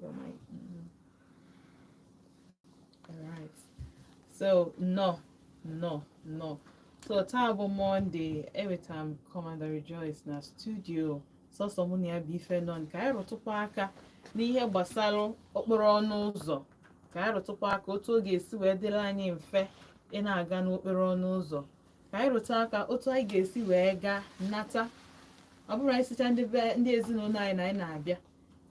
your mic. Mm-hmm. All right. So nnọọ, nnọọ, nnọọ. So taa bụ Monday, enwetara m Commander Rejoice na studio sọsọ mụ na ya bụ ife nọ ka anyị rụtụkwa aka n'ihe gbasara okporo ọnụ ụzọ ka anyị rụtụkwa aka otu ọ ga-esi wee dịrị anyị mfe ị na-aga n'okporo ọnụ ụzọ ka anyị rụta aka otu anyị ga-esi wee gaa nata ọ bụrụ anyị sịchaa ndị be ndị ezinụlọ anyị na anyị na-abịa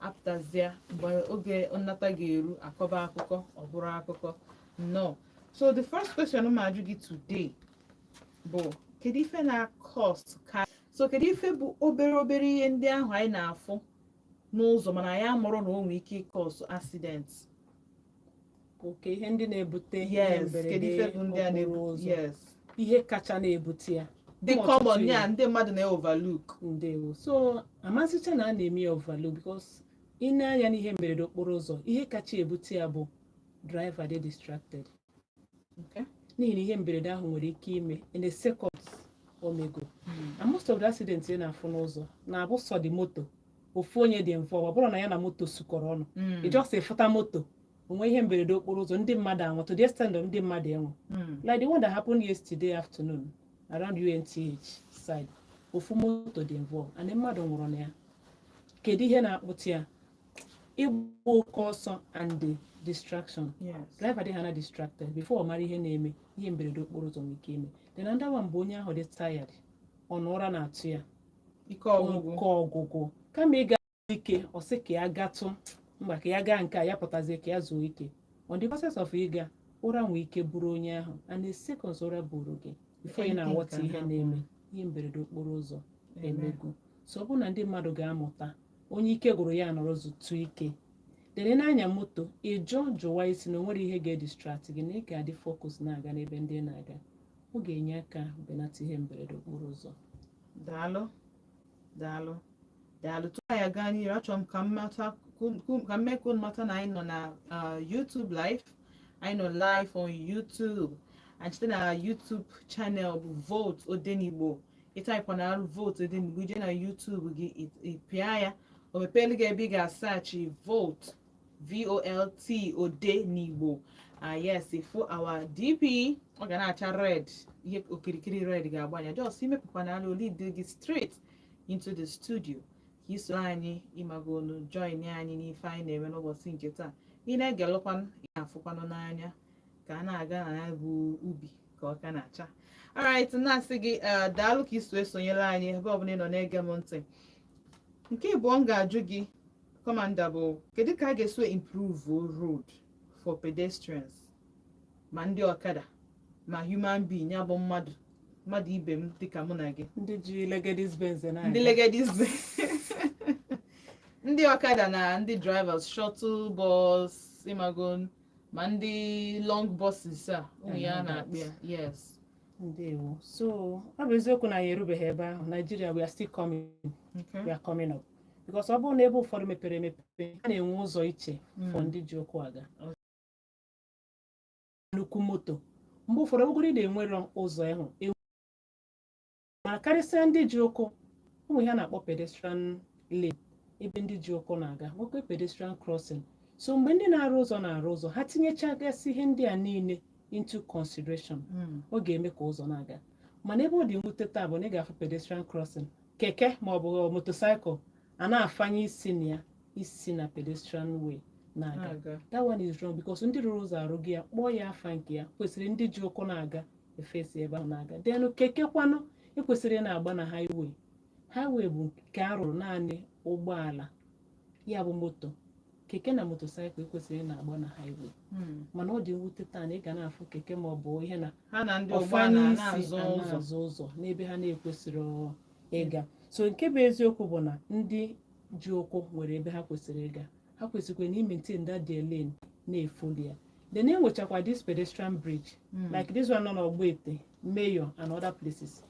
apụtazịa mgbe oge nnata ga-eru akọba akụkọ ọ bụrụ akụkọ nnọọ so the first question m ajụ gị today bụ kedu ife na-acause ka so kedu ife bụ obere obere ihe ndị ahụ anyị na-afụ n'ụzọ mana anyị amarọ na o nwee ike ịcause accident okay ihe ndị na-ebute ihe yes kedu mberede ife bụ ndị a okporo na-ebu ụzọ yes ihe kacha na-ebute ya dị Ụmụ common ọtụtụ ya ihe. ndị mmadụ na-overlook ndewo so amasịcha na a na-eme ya overlook because ị nee anya n'ihe mberede okporo ụzọ ihe kacha ebute ya bụ driver dị distracted Okay. n'ihi na ihe mberede ahụ nwere ike ime in a second o mego and most of the accidents ị na-afụ n'ụzọ na-abụ just moto ofu onye dị mfe ọ bụrọ na ya na moto sukọrọ ọnụ mm. ị just ị fụta moto o nwee ihe mberede okporo ụzọ ndị mmadụ anwụ to the extent of ndị mmadụ enwe mm. like the one that happened yesterday afternoon around UNTH side ofu moto dị involved and mmadụ nwụrụ na ya kedu ihe na-akpata ya ịgba oke ọsọ and the distraction driver dị ha na distracted before ọ mara ihe na-eme ihe mberede okporo ụzọ nwere ike ime then another one bụ onye ahụ dị tired ọ na ụra na-atụ ya ike ọgwụgwụ kama izu ike ọ sị ka ya gbatụ mbọ ka ya gaa nke a ya pụtazie ka ya zuo ike on the process of ịga ụra nwee ike buru onye ahụ and the seconds ụra buru gị before ị na-aghọta ihe na-eme ihe mberede okporo ụzọ emego so ọ bụrụ na ndị mmadụ ga-amụta onye ike gwụrụ ya nọrọ zụtụ ike were na-anya moto ị jụ jụwa isi na o nwerọ ihe ga-edistract gị na ị ga-adị focus na-aga n'ebe ị na-aga ọ ga-enye aka belata ihe mberede okporo ụzọ daalụ daalụ daalụ tupu anyị aga n'ihu achọrọ m ka m mata ka m mee ka unu mata na anyị nọ na uh, YouTube live anyị nọ live on YouTube and site na YouTube channel bụ Vote Odenigbo ị typekwa na arụ Vote Odenigbo i je na YouTube gị ị pịa ya o mepeelu gị ebe ị ga-asearch Vote Vote Odenigbo ah yes fụ our DP ọ ga na-acha red ihe okirikiri red ga-agba ya just imepụkwana ala o lead gị straight into the studio ka i so anyị ịmago onu join anyị n'ife anyị na-eme n'ụbọchị nke taa ị na-egelụkwanụ ị na-afụkwanụ n'anya ka a na-aga na ya bụ ubi ka ọka na-acha alright na-asị gị eh, daalụ ka i si esonyere anyị ebe ọbụla ị nọ na-ege m ntị nke ịbụọ m ga-ajụ gị Kọmanda bụ kedu ka a ga-eso improve road for pedestrians ma ndị ọkada ma human being ya bụ mmadụ mmadụ ibe m dịka mụ na gị ndị ji legedis benz ndị legedis ndị ọkada na ndị drivers shuttle bus ị mago ma ndị long buses a ụmụ ya na-akpị ya yes ndewo so ọ bụ eziokwu na anyị erubeghị ebe ahụ Nigeria we are still coming Okay. we are coming up because ọ bụrụ n'ebe ụfọdụ mepere emepe a na-enwe ụzọ iche for Mm. ndị ji ụkwụ aga nnukwu moto mgbe ụfọdụ ọbụgoro ị na-enwere ụzọ ịhụ mana karịsịa ndị ji ụkwụ o nwere ihe a na-akpọ pedestrian lane ebe ndị ji ụkwụ na-aga nwekwa pedestrian crossing so mgbe ndị na-arụ ụzọ na-arụ ụzọ ha tinyechagasị ihe ndị a niile into consideration Mm. ọ ga-eme ka ụzọ na-aga mana ebe ọ dị mwute taa bụ na ị ga-afụ pedestrian crossing keke ma ọ bụ motorcycle a na-afanye isi na ya isi na pedestrian way na-aga aga that one is wrong because ndị rụrụ ụzọ arụgo ya kpọọ ya afa nke ya kwesịrị ndị ji ụkwụ na-aga efe si ebe a na-aga then keke kwanụ ekwesịrọ ị na-agba na highway highway bụ nke a rụrụ naanị ụgbọala ya bụ moto keke na motorcycle ekwesịrọ ị na-agba na highway Hmm. mana ọ dị mwute taa na ị ga na-afụ keke ma ọ bụ ihe na ha na ndị afanye ụgbọala isi na-azọ a ụzọ na-azọ ụzọ n'ebe ha na-ekwesịrọ ịga so nke bụ eziokwu bụ na ndị ji ụkwụ nwere ebe ha kwesịrị ịga ha kwesịkwara na ịmaintain that their lane na-efollow ya then enwechakwa this pedestrian bridge mm. like this one nọ n'Ọgbete Mayor and other places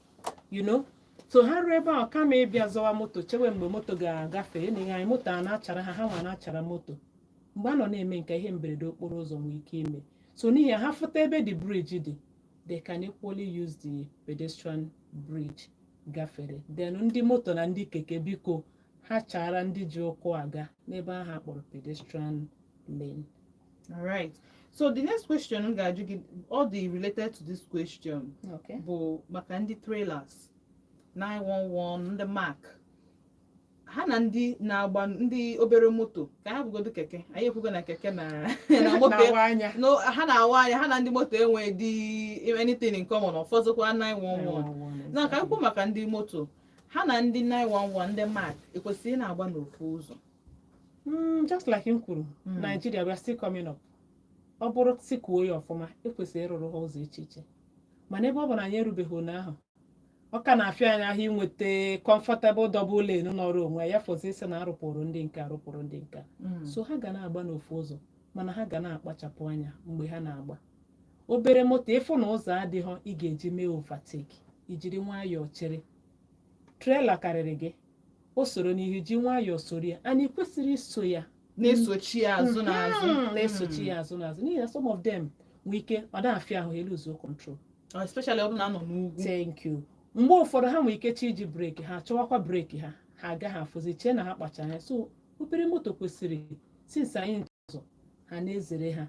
you know so ha ruo ebe ahụ kama ịbịa zọwa moto chewe mgbe moto ga-agafe na ihe anyị moto a na-achara ha ha nwa na-achara moto mgbe a nọ na-eme nke ihe mberede okporo ụzọ nwee ike ime so n'ihi ha fụta ebe the bridge dị they can equally use the pedestrian bridge gafere then ndị moto na ndị keke biko ha chaara ndị ji ụkwụ aga n'ebe ahụ a kpọrọ pedestrian lane All right. So the next question m ga-ajụ gị although related to this question okay bụ maka ndị trailers 911 ndị Mack ha na ndị na-agba ndị obere moto ka a hapụgodu keke anyị ekwugo na keke na na moto na-awa anya no ha na-awa anya ha na ndị moto enweghịdị anything in common ọ fọzikwa 911 na ka anyị kwuo maka ndị moto ha na ndị 911 ndị Mack ekwesịrị ị na-agba n'ofu ụzọ Mm, just like m kwuru Mm. Nigeria we are still coming up ọ bụrụ sị kwuo ya ọfụma e kwesịrị ịrụrụ ha ụzọ iche iche mana ebe ọ bụ na anyị erubeghị ebe ahụ ọ ka na-afịa anyị ahụ inweta comfortable double lane nọrọ onwe ya fọzie sị na a rụpụrụ ndị nke a rụpụrụ ndị nke a so ha ga na-agba n'ofu ụzọ mana ha ga na-akpachapụ anya mgbe ha na-agba obere moto ị fụ na ụzọ adịghị ị ga-eji mee overtake i jiri nwayọọ chere trela karịrị gị o soro n'ihu ji nwayọọ soro ya and ị kwesịrị iso ya na-esochi ya azụ na azụ Mhm, na-esochi ya azụ n'azụ n'ihi na some of them nwee ike ọ na-afịa ahụ eluzuo control Mm, especially ọ bụrụ na a nọ n'ugwu thank you mgbe ụfọdụ ha nwere ike chi iji breki ha chọwakwa breki ha ha agaghị afụzi i chee na ha kpacha anya so obere moto kwesịrị since anyị na-share ụzọ ha na-ezere ha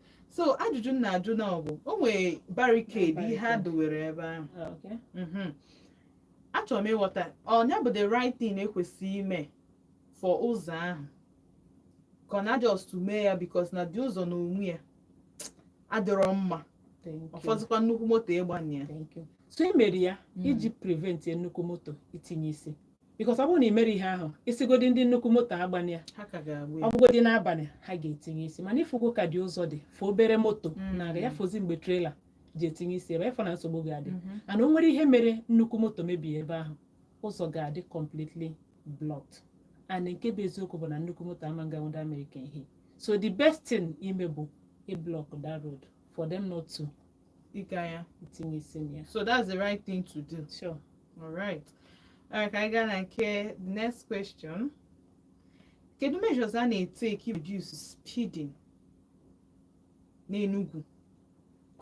so ajụjụ m na-ajụ na ọ bụ o nwere barricade ihe a Barricade. dowere ebe ahụ Okay. Mhm. achọrọ m ịghọta ọ ya bụ the right thing e kwesị ime for ụzọ ahụ ka ọ na just mee ya because na the ụzọ na onwe ya adịrọ mma Thank you. ọfọzikwa nnukwu moto ịgbanye ya Thank you. so e mere ya Mhm. iji prevent nnukwu moto itinye isi because ọ bụrụ na ị mere ihe ahụ ị sịgodị ndị nnukwu moto agbana ya ha ka ga-agba ya ọ bụgodị n'abalị ha ga-etinye isi mana ị fụgo ka the ụzọ dị for obere moto Mm. na-aga ya fọzi mgbe trela ji etinye isi ebe ị fụ na nsogbu ga-adị Mhm. and o nwere ihe mere nnukwu moto mebie ebe ahụ ụzọ ga-adị completely blocked and nke bụ eziokwu bụ na nnukwu moto ama nga ndị America ihe so the best thing ime bụ ịblock that road for them not to ịga ya itinye isi na ya so that's the right thing to do sure all right all right ka anyị gaa na nke the next question kedu measures a na-etake reduce speeding n'Enugu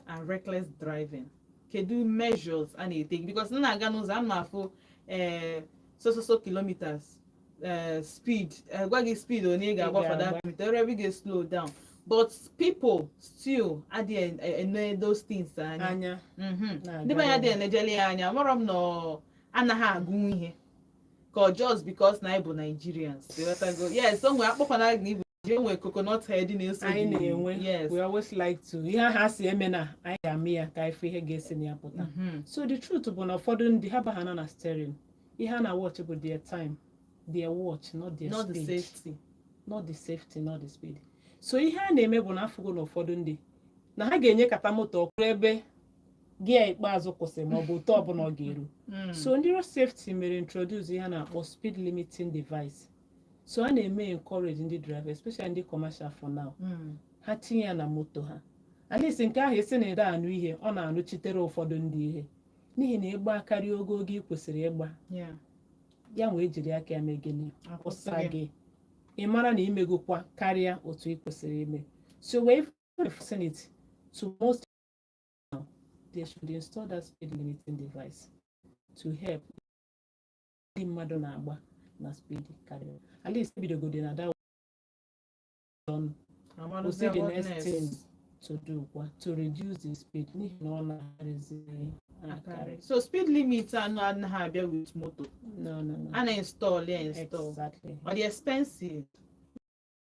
and reckless driving kedu measures a na-etake because m na-aga n'ụzọ a na-afụ eh, so so so kilometers eh, speed eh, gwa gị speed onye ị ga-agbafa that ga-agba. minute ebe ị ga-eslow down but people still adịghị ene those things anya anya Mhm. na-aga ndị be anyị dị ọrụ. enejeli ya anya amarọ m na ọ anaghị agụ ihe ka ọ just because na anyị bụ Nigerians ị ghọtago yes o nwere akpọkwana gị ji enwe coconut head na-eso anyị gị. na-enwe yes we always like to ihe ahụ a sị emena anyị ga-eme ya ka ị fụ ihe ga-esi na ya pụta Mhm. so the truth bụ na ụfọdụ ndị ha baha nọ na steering ihe ha na-watch bụ their time their watch not their not the speed safety not the safety not the speed so ihe a na-eme bụ na a fụgo na ụfọdụ ndị na ha ga-enyekata moto ọkụ ruo ebe gear ikpeazụ kwụsị ma ọ bụ otu ọbụla ọ ga-eru Mm. so ndị road safety mere introduce ihe a na-akpọ speed limiting device so a na-eme encourage ndị driver especially ndị commercial for now mm. ha tinye ya na moto ha at least nke ahụ isi na-adị anụ ihe ọ na-anụchitere ụfọdụ ndị ihe n'ihi na ị gba karịa ogo oge ị kwesịrị ịgba Yeah. ya wee jiri aka ya mee gịnị kwụsị Akwụsị gị ị mara na i megokwa karịa otu ị kwesịrị ime so we vicinity to most now they should install that speed limiting device to help ndị mmadụ na-agba na speed karịrị at least ebidogodi na that one we see the next thing to do bụkwa to reduce the speed n'ihi na ọ na-akarịzi akarị so speed limit anụ anaghị abịa with moto no no no a na-install ya install exactly ọ dị expensive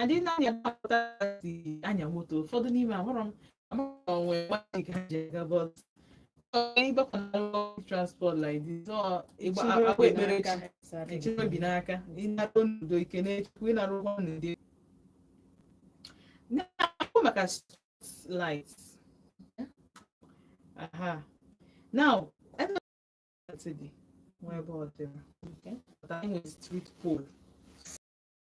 adị na-anya na-apụta si anya moto ụfọdụ n'ime ahụrụ m amaghị onwe mmadụ ka ha ji aga bọs ịgbakọnalụ transport like this ọ ịgba Chiri akpa obi ekpere n'aka. ka Sorry. echebe obi n'aka ịnaru n'udo ike na-echekwa ịnaru ụnọ n'udo na-ekwu maka street light aha now ebe dị nwa ebe ọ dịrị Okay. pụta enwe street pole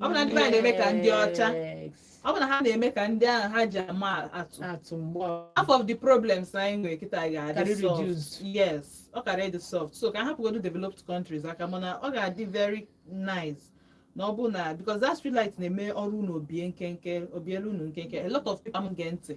ọ bụ na ndị be anyị na-eme ka ndị ọcha Yes. ọ bụ na ha na-eme ka ndị ahụ ha ji ama atụ atụ mgbe ọ- half of the problems anyị nwere kịta Karị ga-adị solved reduced. yes ọ karị ịdị solved so ka a hapụgodu developed countries aka mana ọ ga-adị very nice na ọ bụ na because that street light na-eme ọrụ unu o bie nkenke o bielu unu nkenke a lot of people am gee ntị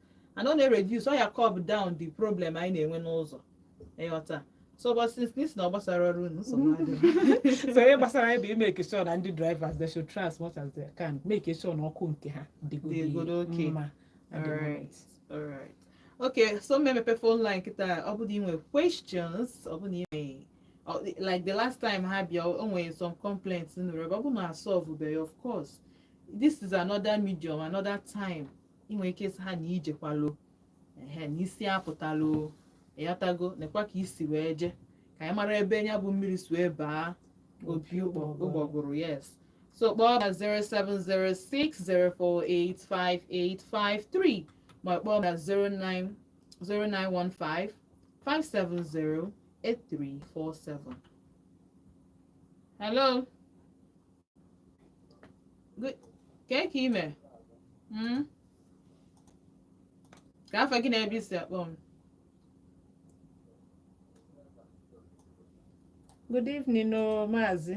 and ọ na-ereduce ọ ya curb down the problem anyị na-enwe n'ụzọ ịghọta so but since na ị sị na ọ gbasarọ ọrụ unu nsogbu adịghị. so ihe gbasara anyị bụ imake sure na ndị drivers they should try as much as they can makee sure na ọkụ nke ha dịgodi Dịgodi okay. mma at the Alright. moment. Alright. Okay, so m mepee phone line kịta ọ bụ na ị nwere questions ọ bụ na ị nwere ọ- like the last time ha bịa o nwere some complaints nụrụ ebe ọ bụ na asolvebeghị of course this is another medium another time ị nwere ike ịsị ha na i jekwalụ ehe na isi apụtarọ ịghọtago nekwa ka i si wee je ka anyị mara ebe ya bụ mmiri si wee baa opi ụgbọgụrụ yes so kpọọ na 07060485853 ma kpọọ na 09155708347 hello kee ka i me hmm? kee afa gị na ebe i si akpọ m good evening o oh, maazị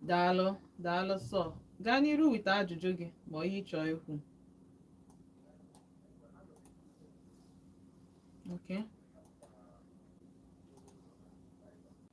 daalụ daalụ so gaa n'iru wite ajụjụ gị ma ihe ị chọọ ikwu okay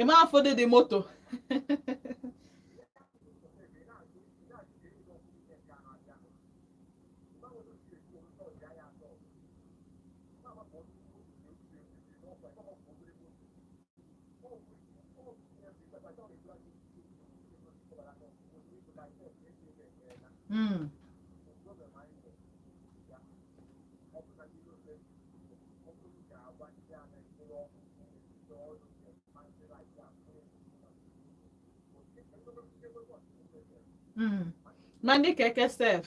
ị ma ụfọdụ ndị moto Mm. Mm. Mandi keke sef.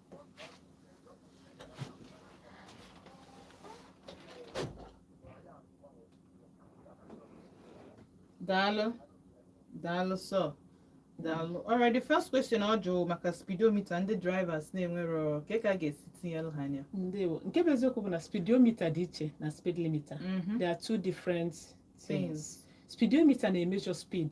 daalụ daalụ sọ daalụ alright the first question ọ jụrụ maka speedometer ndị drivers na-enwerọ ka a ga-esi tinyelụ ha anya ndewo nke bụ eziokwu bụ na speedometer dị iche na speed limiter mm-hmm. there are two different things speedometer na-emeasure speed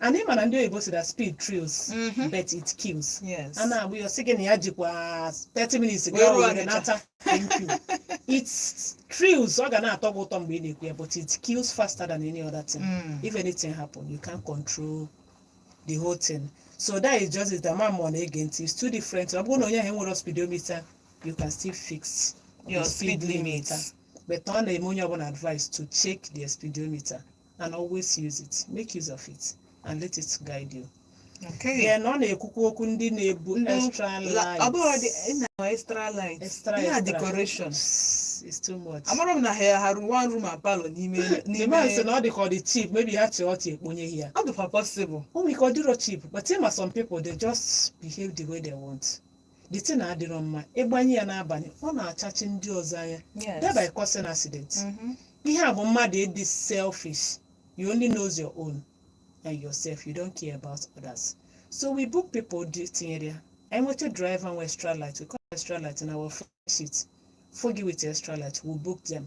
and ị ma na ndị oyibo si na speed thrills Mhm. but it kills Yes. ọ na-abụ ya sị gị na ya jikwa 30 minutes Wee gaa ruo Owerri Ọnịcha. nata thank you it thrills ọ ga na-atọ gị ụtọ mgbe ị na-ekwu ya but it kills faster than any other thing Mm. if anything happen you can't control the whole thing so that is just it ama m ma ọ na-ege ntị it's two different ọ bụrụ na onye ahụ enwerọ speedometer you can still fix Your the speed limit. but a na-enye onye ọbụla advice to check their speedometer and always use it make use of it and let it guide you Okay. then ọ na-ekwukwa okwu ndị na-ebu Ndị- extra La- ọ bụghị light dị- ị na- extra light. Extra, Ihe a extra. decoration. it's too much Amara m na ha ha rụrụ one room and parlour n'ime the n'ime- man sị na ọ dị ka ọ dị cheap maybe ha chịrị ọchị ekponye ya Ọ dịkwa possible. o nwere ike ọ dịrọ cheap but ịma some people they just behave the way they want the thing adịrọ mma ịgbanye ya n'abalị ọ na-achachi ndị ọzọ anya Yes. thereby causing accident Mhm. ihe a bụ mmadụ ịdị selfish you only knows your own and yourself you don't care about others so we book people ndị tinyere ya anyị nweta driver nwe extra light we call extra light in our offence sheet fogi with extra light we book them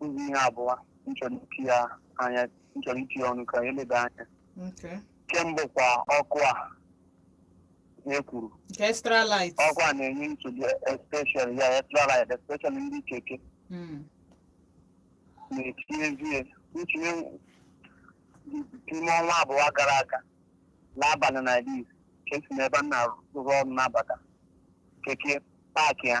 ụzọ ihe abụọ m chọrọ itinye anya m chọrọ itinye ọnụ ka e leba anya Okay. ke mbụ kwa ọkụ a e kwuru Nke extra light. ọkụ a na-enye nsogbu especially extra light especially ndị keke Mm. na-etinyezie ntinye n'ime ọnwa abụọ gara aga n'abalị na iri ka esi n'ebe m na-arụ ọrụ na-abata keke paakị ya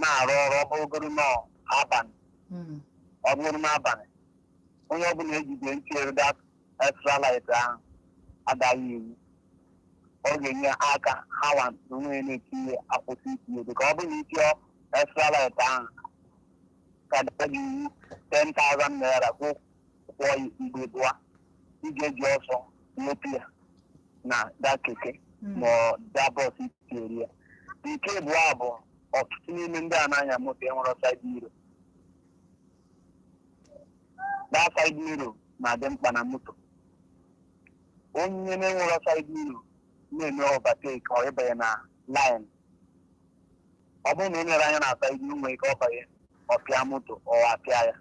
na-arụ ọrụ ọ bụrụgoro n'abalị Mm. ọ bụrụ n'abalị onye ọbụla ejide tinyere that extra light ahụ a daa gị iwu ọ ga-enye aka ha wa onwe ya na-etinye akwụsị itinye dị ka ọ bụrụ na i tinye extra light ahụ ka a daa gị iwu 10,000 naira kwụ kwụọ ya ugbo ịbụa ị ga-eji ọsọ wepụ ya na that keke ma ọ that bus i tinyere ya nke abụọ bụ ọtụtụ n'ime ndị a na-anya moto enwerọ side mirror that side mirror na-adị mkpa na moto onye na-enwerọ side mirror na-eme overtake ọ ịbanye na lane ọ bụrụ na ị nyere anya na side inwe ike ọ banye ọ pịa moto ọwa apịa ya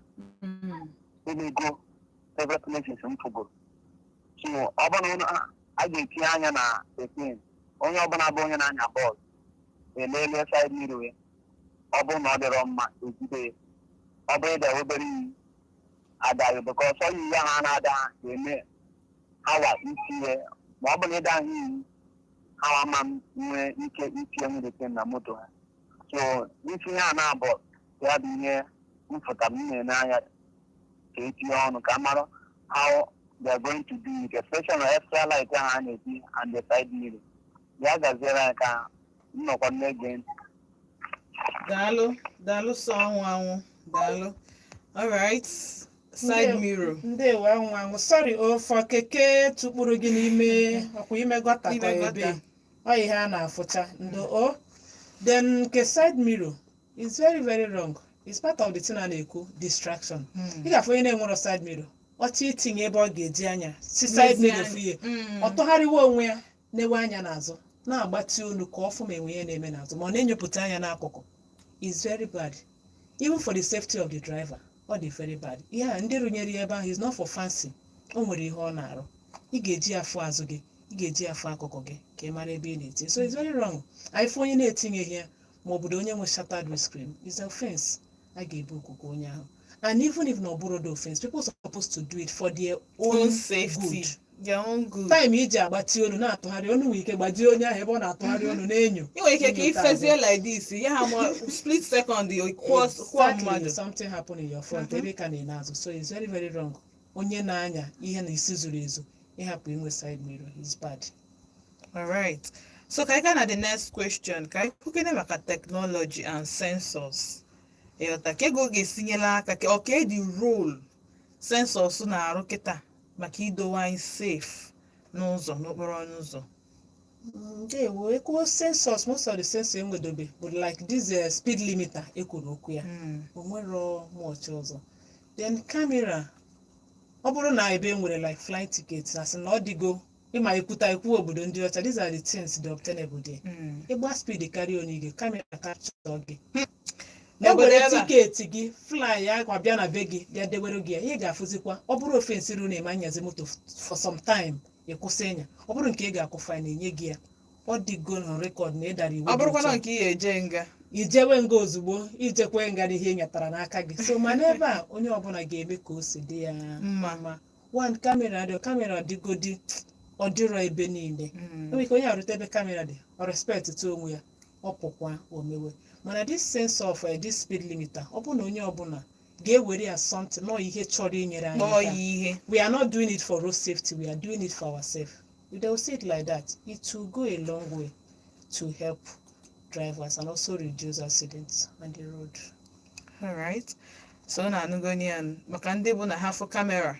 emego several places m fụgoro so ọ bụrụ na unu- a ga-etinye anya na etin onye ọbụla bụ onye na-anya ụgbọala eleele side mirror ya ọ bụrụ na ọ dịrọ mma ejide ya ọ bụrụ ịda obere iyi adaghị because iyi a ha na-ada ha ga-eme ha waa isi ya ma ọ bụ na ịda ha iyi ha ama enwe ike itinyenwu the thing na moto ha so ntinye a na-abụ ya bụ ihe m fụtara m na-ene anya ka etinye ọnụ ka m mara how they are going to do it especially na extra light ahụ a na-eti and the side mirror ya gaziere anyị ka m nọkwa na-ege ntị daalụ daalụ sọ anwụ anwụ daalụ alright side mirror ndewo anwụ anwụ sorry o for keke tukpuru gị n'ime ọkwa ime gutter Ime ka gutter. ebe ọ ihe a na-afụcha ndo o then nke side mirror is very very wrong is part of the thing a na-ekwu distraction ị ga-afụ onye na-enwerọ side mirror ọchị itinye ebe ọ ga-eji anya si side Nezie mirror anya. fụ ihe Mm. ọ tụgharịwa onwe ya na-ewe anya n'azụ na-agbatị olu ka ọ fụ ma e nwee ihe na-eme n'azụ ma ọ na-enyopụta anya n'akụkụ is very bad even for the safety of the driver ọ dị very bad ihe a ndị rụnyere ya ebe ahụ is not for fancy o nwere ihe ọ na-arụ ị ga-eji afụ azụ gị ị ga-eji afụ akụkụ gị ka ị mara ebe ị na-eti so it's very wrong ịfụ onye na-etinyeghị ya ma ọ bụrụ onye nwe shattered windscreen is offense a ga-ebookukwa onye ahụ and even if na ọ bụrọ the offense people supposed to do it for their own own safety good their own good time i ji agbatị olu na-atụgharị olu nwere ike gbajie onye ahụ ebe ọ na-atụgharị olu na-enyo ị nwere ike ka Enyo taa ifezie like this ya ha ma split second kwụọ kwụọ Exactly, mmadụ something happen in your front Mhm. ebe ị ka na-ene azụ so it's very very wrong onye na-anya ihe na isi zuru ezu ịhapụ inwe side mirror is bad alright so ka anyị gaa na the next question ka anyị kwukene maka technology and sensors ịghọta ka ego ga-esi nyela aka ka ọ ka the role sensors na-arụ kịta maka idowe anyị safe n'ụzọ n'okporo ụzọ ndewo ekwuo sensors most of the sensor enwedobe bụ like this eh, speed limiter ekwuru okwu ya Mm. o nwerọ much ọzọ then camera ọ bụrụ na ebe e nwere like flight ticket na sị na ọ dịgo ị ma ekwuta okwu obodo ndị ọcha these are the things the obtainable there Mm. ịgba speed karịa onye gị camera capture gị e N'obodo were ebe a. ticket gị fly ya gwa bịa na be gị bịa dewere gị ya ị ga-afụzikwa ọ bụrụ offense ruru na ị ma anyazi moto for some time ị kwụsị ịnya ọ bụrụ nke ị ga-akwụ fine enye gị ya ọ dịgo na record na ị dara iwu ọ bụrụkwa nke ị ga-eje nga ị jewe nga ozugbo ị jeekwa nga na ihe ị nyatara n'aka gị so ma n'ebe a onye ọbụla ga-eme ka o si dị ya mma wan kamera dị kamera dịgodi ọ dịrọ ebe niile Mm. enwere ike onye eruta ebe kamera dị ọ respectuo onwe ya ọ pụkwa o mewe mana this sense of eh, this speed limiter ọ bụ na onye ọbụla ga-ewere ya something nọ ihe chọrọ inyere anyị kpọọ aka. ya ihe we are not doing it for road safety we are doing it for ourselves if they will see it like that it will go a long way to help drivers and also reduce accidents on the road alright so unu anụgonụ ya nụ. maka ndị bụ na ha fụ kamera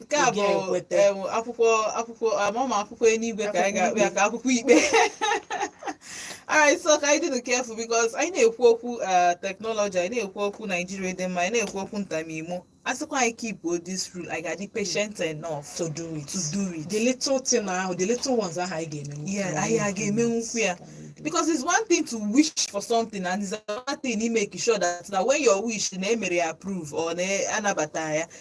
nke a Ị bụ ga-enweta. em, akwụkwọ akwụkwọ amama akwụkwọ eluigwe ka anyị ga-akpọ ya ka akwụkwọ ikpe alright so ka anyị dịnụ careful because anyị na-ekwu okwu eh, technology anyị na-ekwu okwu Nigeria dị mma anyị na-ekwu okwu ntamimo a sịkwa anyị keep this rule anyị ga-adị patient enough to do it to do it the little thing ahụ the little ones ahụ anyị ga-eme Yeah, anyị ga-eme nnukwu ya. because it's one thing to wish for something and it's another thing to make sure that na when your wish na e mere ya approve or na anabata ya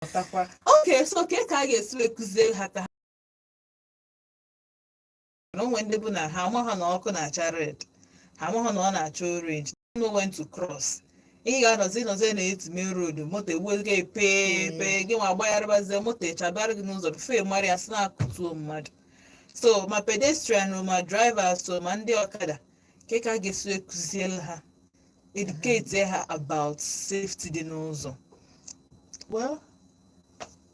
pụtakwa okay so kee ka a ga-esi wee kụziere ha maka na o nwe ndị bụ na ha amaghị na ọkụ na-acha red ha amaghị na ọ na-acha orange know when to cross ị ga-anọzi nọzi na etime road moto egbuo gị pee pee gị nwa agbagharịbazie moto achabara gị n'ụzọ before ị mara ya sị na-akụtuo mmadụ so ma pedestrian ma drivers so ma ndị ọkada kee ka a ga-esi wee kụziere ha educate ha about safety dị n'ụzọ well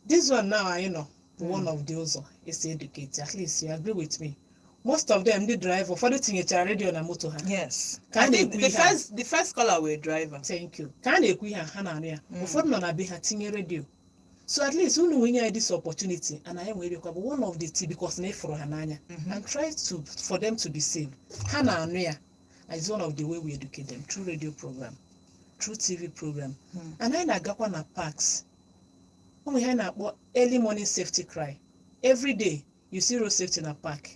this one now anyị nọ bụ one of the ụzọ e si educate at least you agree with me most of them ndị driver ụfọdụ tinyechara redio na moto ha yes Ka a I think na-ekwu the ihe a. first the first caller were driver thank you ka a na-ekwu ihe a, ha na-anụ ya Mm. ụfọdụ nọ na be ha tinye redio so at least unu nwee nye anyị this opportunity and anyị nwere kwa bụ one of the things because na anyị fụrụ ha n'anya Mhm. and try to for them to be safe ha na-anụ ya and it's one of the way we educate them through radio program through tv program Hmm. and anyị na-agakwa na parks o nwe ihe anyị na-akpọ early morning safety cry every day you see road safety na park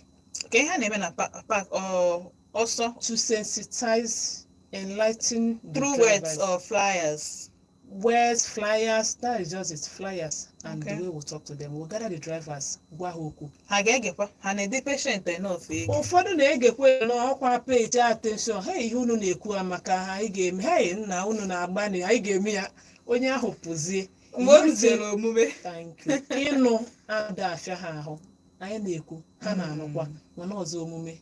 kee ihe a na-eme na pa- park ọ- ọ sọ to sensitize enlighten the through words drivers. or flyers words, flyers, that is just it, flyers, and Okay. the way we talk to them. We'll gather the drivers, gwa ha okwu. ha ga-egekwa ha na-adị patient enough ege Ụfọdụ na-egekwa n'ọkwa pay attention, ha ihe unu na-ekwu amaka ha, anyị ga-eme, hei nna unu na-agbalị, anyị ga-eme ya, onye ahụ pụzie. mgbe o rutere omume Thank you. Ịnụ ada afịa ha ahụ, anyị na-ekwu, ha na-anụkwa, mana ọzọ omume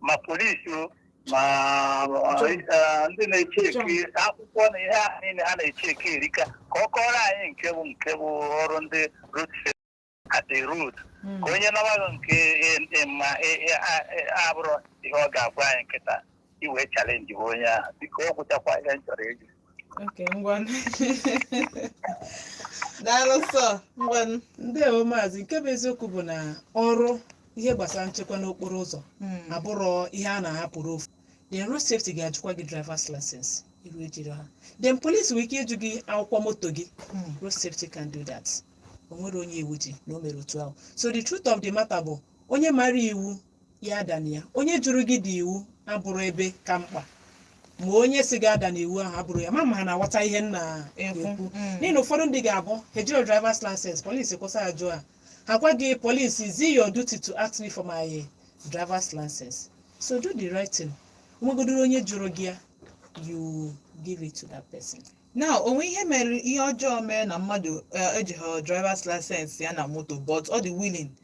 ma polisi o ma Chọ. eh, ndị na-echeke akwụkwọ na ihe ahụ niile ha na-echeke erika ka ọ kọọrọ anyị nke bụ nke bụ ọrụ ndị road safety at the road Mm. ka onye na-amaghị nke eh, eh, ma eh, eh, a- eh, abụrụ ihe ọ ga-agwa anyị kịta i wee chalenji onye ahụ biko ọ gwụchakwa ihe m chọrọ ịjụ Okay, ngwanụ. Daalụ sọ, ngwanụ. ndewo maazị nke bụ eziokwu bụ na ọrụ ihe gbasara nchekwa n'okporo ụzọ Mm. abụrọ ihe a na-ahapụrụ ofu then road safety ga-ajụkwa gị drivers license iru ejiri ha then police nwere ike ịjụ gị akwụkwọ moto gị Mm. road safety can do that o nwerọ onye iwu ji na o mere otu ahụ so the truth of the matter bụ onye mara iwu ya adana ya onye jụrụ gị iwu abụrọ ebe ka mkpa ma onye sị gị adana iwu ahụ abụrọ ya ma ma ha na-aghọta ihe m na-ekwu Ekwu, mm. n'ihi na ụfọdụ ndị ga-abụ ha ejiro drivers license polisi kwụsị ajụ a ha gwa gị polisi is it your duty to ask me for my drivers license so do the right thing nwegodoro onye jụrụ gị ya you give it to that person na o nwee ihe mere ihe ọjọọ mere na mmadụ eh, ejighị drivers license ya na moto but ọ dị willing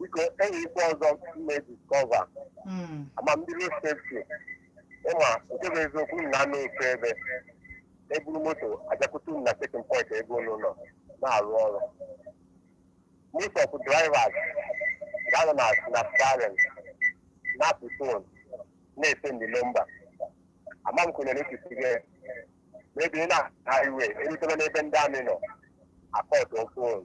biko e nwee ihe ọzọ m na-adiskọva Mm. ama m ndị road safety ị ma nke bụ eziokwu unu na-anọ ofu ebe e buru moto abịakwute unu na chekin pọint ebe unu nọ na-arụ ọrụ most of drivers ga-anọ na na steering na-akụ fon na-esendị nọmba ama m kwenyere echichi gị ma ebe ị na-aha iwe e rutebe n'ebe ndị amị nọ akọtụ fon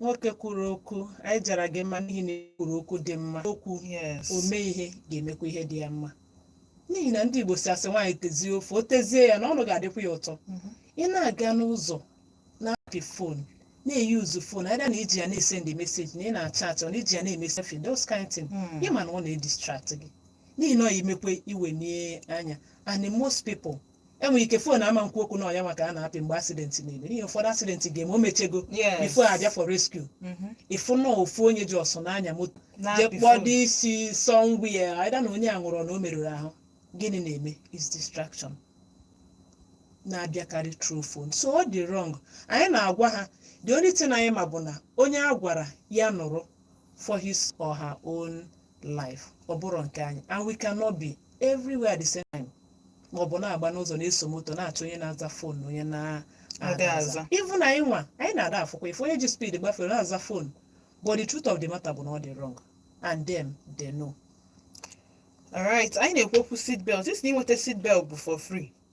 nwoke kwuru okwu anyị jara gị mma n'ihi na ị kwuru okwu dị mma okwu yes ome ihe ga-emekwa ihe dị ya mma n'ihi na ndị igbo sị asị nwaanyị tezie ofe o tezie ya na ọnụ ga-adịkwa ya ụtọ Mhm. ị na-aga n'ụzọ na-apị fon na-eyuzu fon aịda na i ji ya na-esendị meseji na ị na-achaatị or na i ji ya na-eme something those kind thing Mm. ị ma na ọ na-edistrakt gị n'ihi na ọ ya emekwe iwe n'anya and most people e nwere ike fon ama nkwu okwu na ọ ya ka a na-apị mgbe asidenti na-eme n'ihi ụfọdụ asidenti ga-eme o mechago Yes. bifọ a bịa for rescue Mhm. ị fụ na ofu onye ji ọsọ na-anya moto Na-apị jee kpọọ phone. dị isi sọ ngwa ya aịda na onye a nwụrụ na o merụrụ ahụ gịnị na-eme is distraction na-abịakarị through phone so ọ dị wrong anyị na-agwa ha the only thing anyị ma bụ na onye a gwara ya nụrụ for his or her own life ọ bụrọ nke anyị and we cannot be everywhere at the same time ma ọ bụ na-agba n'ụzọ na-eso moto na-achọ onye na-aza fon na onye na-adịghị aza. even anyị nwa anyị na-ada afụkwa ife onye ji speed gbafere na-aza fon but the truth of the matter bụ na ọ dị wrong and them they know alright anyị na-ekwu okwu seat belt ị sị na inweta seat belt bụ for free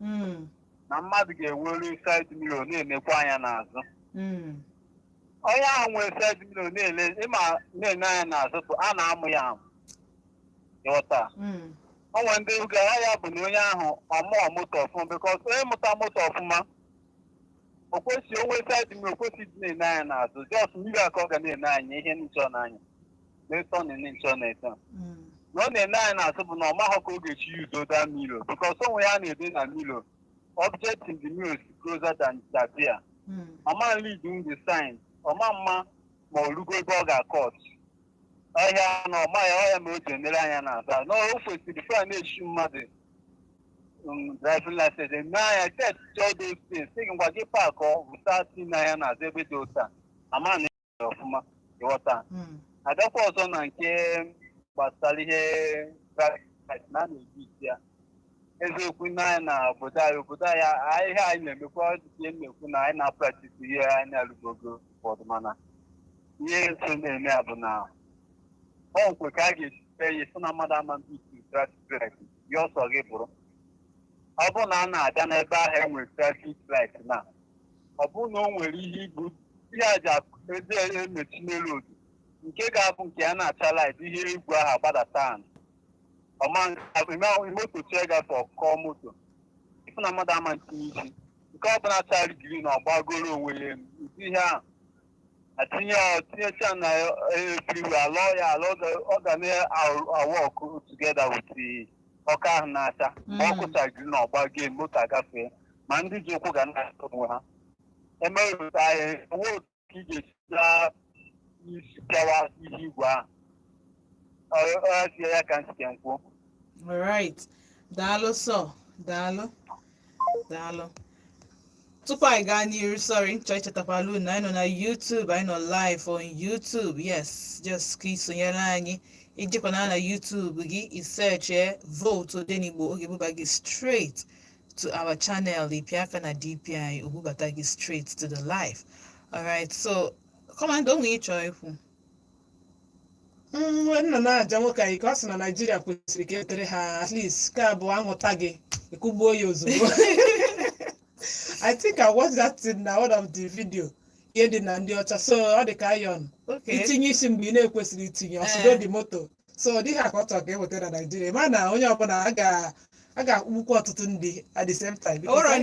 Mm, na mmadụ ga-enwere side mirror na-enekwa anya n'azụ mm, onye ahụ nwere side mirror na-ele ịma na-ene anya n'azụ tụ a na-amụ ya amụ ịghọta mm, o nwe ndị gara ya bụ na onye ahụ amụọ moto ọfụma because onye mụta moto ọfụma o kwesị o nwe side m- o kwesị dị na-ene anya n'azụ just mirror ka ọ ga na-ene anya ihe nchọ n'anya n'eto na ene nchọ na-eto Mm. na ọ na-ene anya n'azụ bụ na ọ maghọ ka ọ ga-esi use the mirror because o nwe ihe a na-ede na mirror object in the mirror is closer than it appear Mm. ọ ma read in the sign ọ ma-ama ma ọ rugo ebe ọ ga-acut ọhịa na ọma ya ọhịa ma o ji enere anya n'azụ na o kwesịrị fa na-echi mmadụ um, driving license eme anya test all those things sị gị ngwa gị park ọ bụta si na ya n'azụ ebe dị ụta ama na ya ọfụma ịghọta Mm. a gakwa ọzọ na nke gbasara ihe driving license na a na-eji issue ya eziokwu na anyị na obodo anyị obodo anyị a- ihe anyị na-emekwa ọdịdị na-ekwu na anyị na-apractise ihe anyị na-alụgogo ụfọdụ mana ihe so na-eme ya bụ na ọ nkwe ka a ga-esi kpee ya sị na mmadụ ama ndị isi driving gị ọsọ gị bụrụ ọ bụrụ na a na-abịa n'ebe ahụ e nwere traffic light na ọ bụrụ na o nwere ihe ibu ihe a ji akụ- eji emechi n'elu road nke ga-abụ nke ya na-acha red ihe igwe ahụ agbadata anụ ọma moto chie gafe ọ kụọ moto ị fụ na mmadụ ama-etinye isi nke ọ bụla chara green ọ gbagoro onwe ya elu ụdị ihe ahụ atinye tinyecha na everywhere alụọ ya alụọ ọ ga na-awork together with the ọkụ ahụ na-acha ma ọkụ chaa green ọ gbago moto agafee ma ndị ji ụkwụ ga na-achọ onwe ha emerụta ya enwe otu ka ị ga-esita isi pịawa ihe igwe ahụ ọ ọ ya ka m sị ka m kwuo Alright. Daalụ sọ. Daalụ. daalụ tupu anyị gaa n'iru sorry m chọ ichetakwala unu anyị nọ na YouTube anyị nọ live on YouTube yes just ka ị sonyere anyị i jekwaa na YouTube gị i searchie vote Odenigbo ọ ga-ebuba gị straight to our channel ị pịa aka na DP o bubata gị straight to the live alright so commander o nwe ihe ị chọ ikwu nwe nna na-aja nwoke anyị ka ọ sị na naijiria kwesịrị ka e wetere ha at least ka abụọ ahụta gị ịkụgbuo ya ozugbo i think i watched that thing na one of the video ihe dị na ndị ọcha so ọ dị ka iron Okay. i tinye isi mgbe ị na-ekwesịrị itinye ọ sụdo Eh. dị moto so ụdị a ka ọ chọrọ ka e weta na naijiria ma na onye ọbụla a ga- a ga-akpụkwu ọtụtụ ndị at the same time because Ụrọ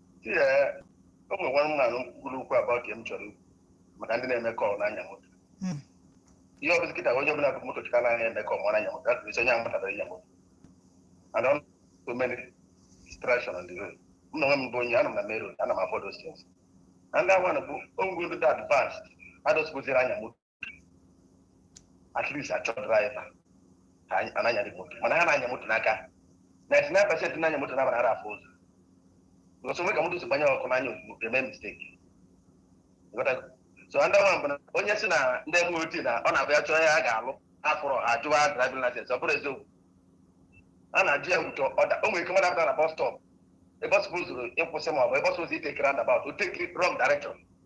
Ee, o nwere nwa mmadụ kwuru okwu abụọ ka m chọrọ ikwu maka ndị na-eme call na-anya moto Mm. ihe ọbụla kịta onye ọbụla bu moto chịka na-anya eme call mara anya moto atụrụ isi onye ahụ matara anya moto and on so many distraction on the road m na onwe m bụ onye ana m na main road ana m afụ those things and that one bụ onwe ndị dị advanced adọsibụziri anya moto at least achọ driver ka anyị- a na-anyarị moto mana ha na-anya moto n'aka 99 percent na-anya moto na agbara afụ ụzọ because o nwe ka moto si gbanye ọkụ n'anya ozugbo ga-eme mistake Ịghọtago? so ndị nwa mbụ na onye si na ndị MOT na ọ na-abụ ya chọọ ya a ga-alụ afụrụ ajụwa driving license ọ bụrụ eziokwu a na-ajụ ya ụtọ ọda o nwere ike mmadụ apụta na bus stop ebe ọ supposuru ịkwụsị ma ọ bụ ebe ọ supposuru itake roundabout o takiri wrong direction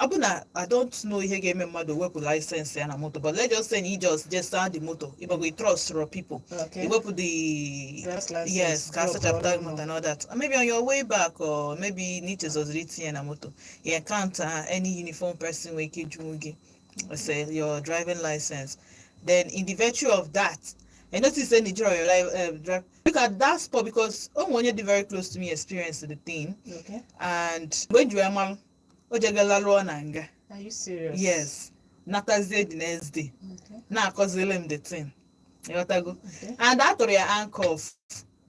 ọ bụ na i don't know ihe ga-eme mmadụ wepụ license ya na moto but let's just say na ị just je saa the moto ịbọgo i trust your people Okay. i wepụ the Driver's license, yes ka drop a sachapụta all moto and all that maybe on your way back or maybe na i chezoziri itinye na moto you encounter any uniform person nwere ike jụọ gị say your driving license then in the virtue of that i notice say na i jirọ your life uh, drive look at that spot because o nwere onye dị very close to me experienced the thing Okay. and when you are o jega lalụọ na nga Are you serious? yes natazie the next day Okay. na-akọziri m the thing ịghọtago Okay. and a tụrụ ya handcuff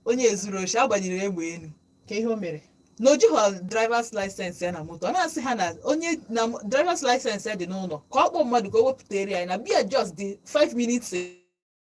onye zuru oshi a gbanyere egbe enu Kee ihe o mere? na o jighọ drivers license ya na moto ọ na-asị ha na onye na m- drivers license ya dị n'ụlọ ka ọ kpọọ mmadụ ka o wepụtara ya na be ya just dị 5 minutes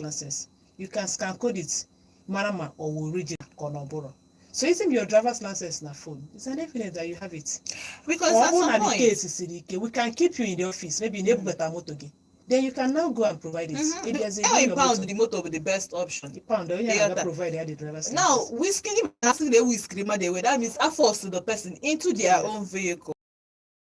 license you can scan code it mara ma ọ wụ original ka ọ na ọ bụrụ so isi m your driver's license na phone it's an evidence that you have it Because ọ at bụrụ na some the point, case siri ike we can keep you in the office maybe na ebubata moto gị then you can now go and provide it Mhm. Ị bịazie How bring a your pound motor. the motor with the best option. The pound onye Yeah, na-aga that- provide ya the driver's Now, license whiskey, asking the whiskey, man, they were that means I force the person into their Yeah. own vehicle.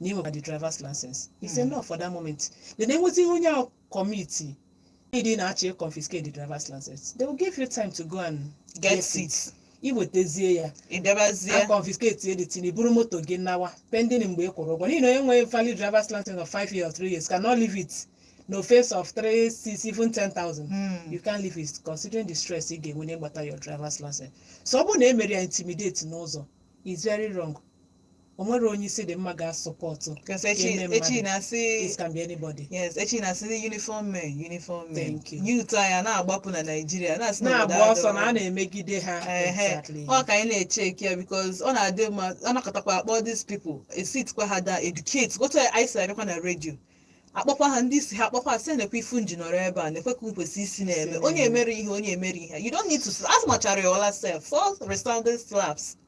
na ị nwekwa the drivers license it's Mm. enough for that moment then e nwezie ihe onye ahụ committed ị na-achọ confiscate the drivers license they will give you time to go and get Yes, it i wetazie ya ị bịabazie a confiscate ye the thing i buru moto gị nawa pending mgbe ị kwụrụ ụgwọ n'ihi na onye nwere valid drivers license of five years or three years cannot leave it na offence of three six even ten thousand Mm. you can't leave it considering the stress ị ga-enwe n'ịgbata your drivers license so ọ bụrụ na e mere ya intimidate n'ụzọ is very wrong o nwere onye isi dị mma ga-asọpụtụ Because echi Eme mmadụ. echi na-asị it can be anybody yes echi na-asị ndị uniform men uniform men Thank you. youth anyị a na-agbapụ na Naịjirịa na-asị na obodo na-agba ọsọ na a adọrọ. na-emegide ha Ehe. exactly ọ ka anyị na-echeki ya because ọ na-adị mma a nakọtakwa a kpọọ these people e sikwa ha da educate otu anyị si abịakwa na redio akpọkwa ha ndị isi ha akpọkwa asị nekwa ife unu ji nọrọ ebe a nekwe ka m kwesị isi na-eme onye mere ihe onye mere ihe you don't need to as much as your last self four resounding slaps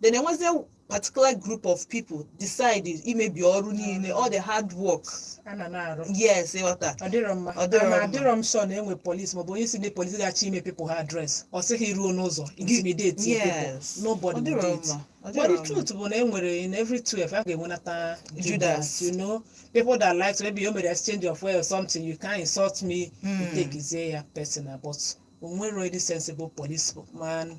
then enwezie particular group of people decide imebi ọrụ niile all the hard work a na na-arụ yes ịghọta ọ dịrọ mma Ọ dịrọ Ma mma. adịrọ m sure na e nwere police maọbụ onye isi ndị police ga-achọ ime people ha address ọ sịghị ruo n'ụzọ intimidate Yes. people Ọ nobody dịrọ will do it. mma. Ọ but dịrọ the mma. truth bụ na e nwere in every 12 a ga-enwenata Judas. Judas you know people that like to maybe o mere exchange of words or something you can insult me you Hmm. takezie ya personal but o nwere any sensible police man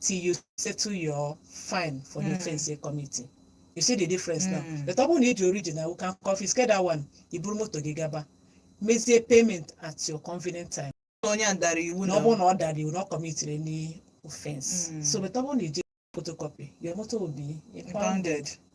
till you settle your fine for the Mm. offense you're committing. You see the difference now. Mm. But ọ bụrụ na ị ji original, you can confiscate that one. I buru moto gị gaba. Mezie payment at your convenient time. onye a dara iwu na ọ bụrụ na ọ dara iwu na ọ commitiri any offense Mm. so but ọ bụrụ na ị ji photocopy your motor will be impounded impounded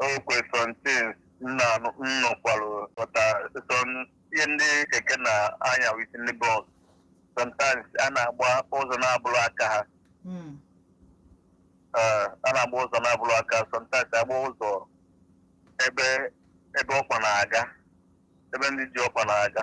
okay something nna nnọkwalụ pụta sọn ihe ndị keke na-anya with ndị bus sometimes a na-agba ụzọ na-abụrọ aka ha Mm. Eh, a na-agba ụzọ na-abụrọ aka sometimes agba ụzọ ebe ebe ọkpa na-aga ebe ndị ji ọkpa na-aga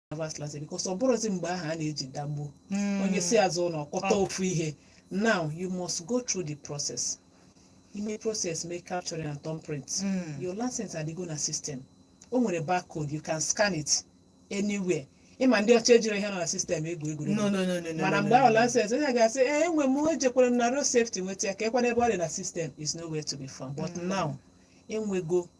Sabbath class because ọ bụrọzi mgbe ahụ a na-eji dagbo Mm. onye si azụ ụlọ kọta Ọ- ofu ihe now you must go through the process ime process mee capturing and thumbprint Mm. your license adịgo na system o nwere barcode you can scan it anywhere ị ma ndị ọcha ejirọ ihe nọ na system egwu egwuregwu No, no, no, no, no, mana no, mgbe no, ahụ no. license onye ga-asị ee enwe m ejekwere m na road safety nweta ya ka ekwana ebe ọ dị na system is nowhere to be found but Mm. now e nwego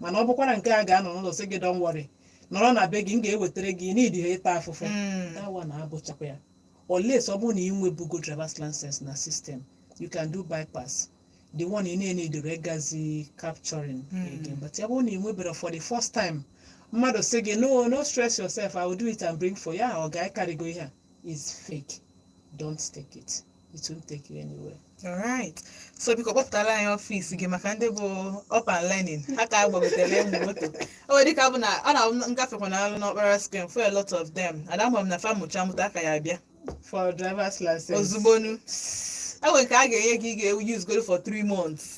mana ọ bụkwara nke a ga-anọ n'ụlọ sị gị don worry nọrọ na be gị m ga-ewetara gị ị needirọ ịta afụfụ Mm. that one abụchakwa ya unless ọ bụrụ na ị nwebugo drivers license na system you can do bypass the one ị na-eneedirọ ịgazi capturing Mm. again but ya bụrụ na ị nweberọ for the first time mmadụ sị gị no no stress yourself i will do it and bring for you ọ ga-akarịgo ihe a is fake don't take it it won't take you anywhere alright so biko kpọpụtara anyị ọfịs gị maka ndị bụ up and learning ha ka gbagotere ịmụ moto o nwere dịka bụ na m na-agafekwa na alụ n'Okpara square m fụ a lot of them and ama m na fa mụcha mụta aka ya bịa for driver's license ozugbo no e nwere nke a ga-enye gị ị ga-usegodu for 3 months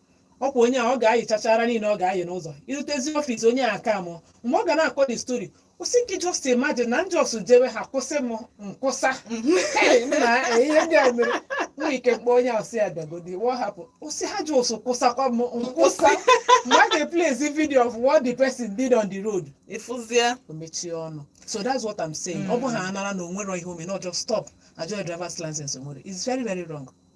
ọkwa onye a ọ ga-ayịchachara niile ọ ga-ayị n'ụzọ i rutezie ọfịs onye a ka mụ mgbe ọ ga na-akọ the story ọ sị gị just imagine na m just jewe ha kwụsị m nkwụsa Hey, nna, eh, ihe ndị a mere nwere ike m kpọọ onye ahụ sị ya bịagodi what happened ọ sị ha just kwụsakwa m nkwụsa mgbe a ga-eplayzi video of what the person did on the road ị fụzie o mechie ọnụ so that's what I'm saying ọ bụ ha anara na o nwere ihe o mere na a just stop ajụọ driver's license o nwere it's very very wrong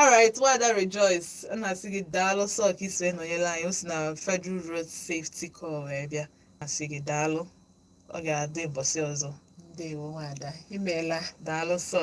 alright nwada rejoice a na-asị gị daalụ sọ ka i si wee nọnyere anyị o si na federal road safety corps wee bịa asị gị daalụ ọ ga-adị ụbọchị ọzọ ndewo nwada imeela daalụ sọ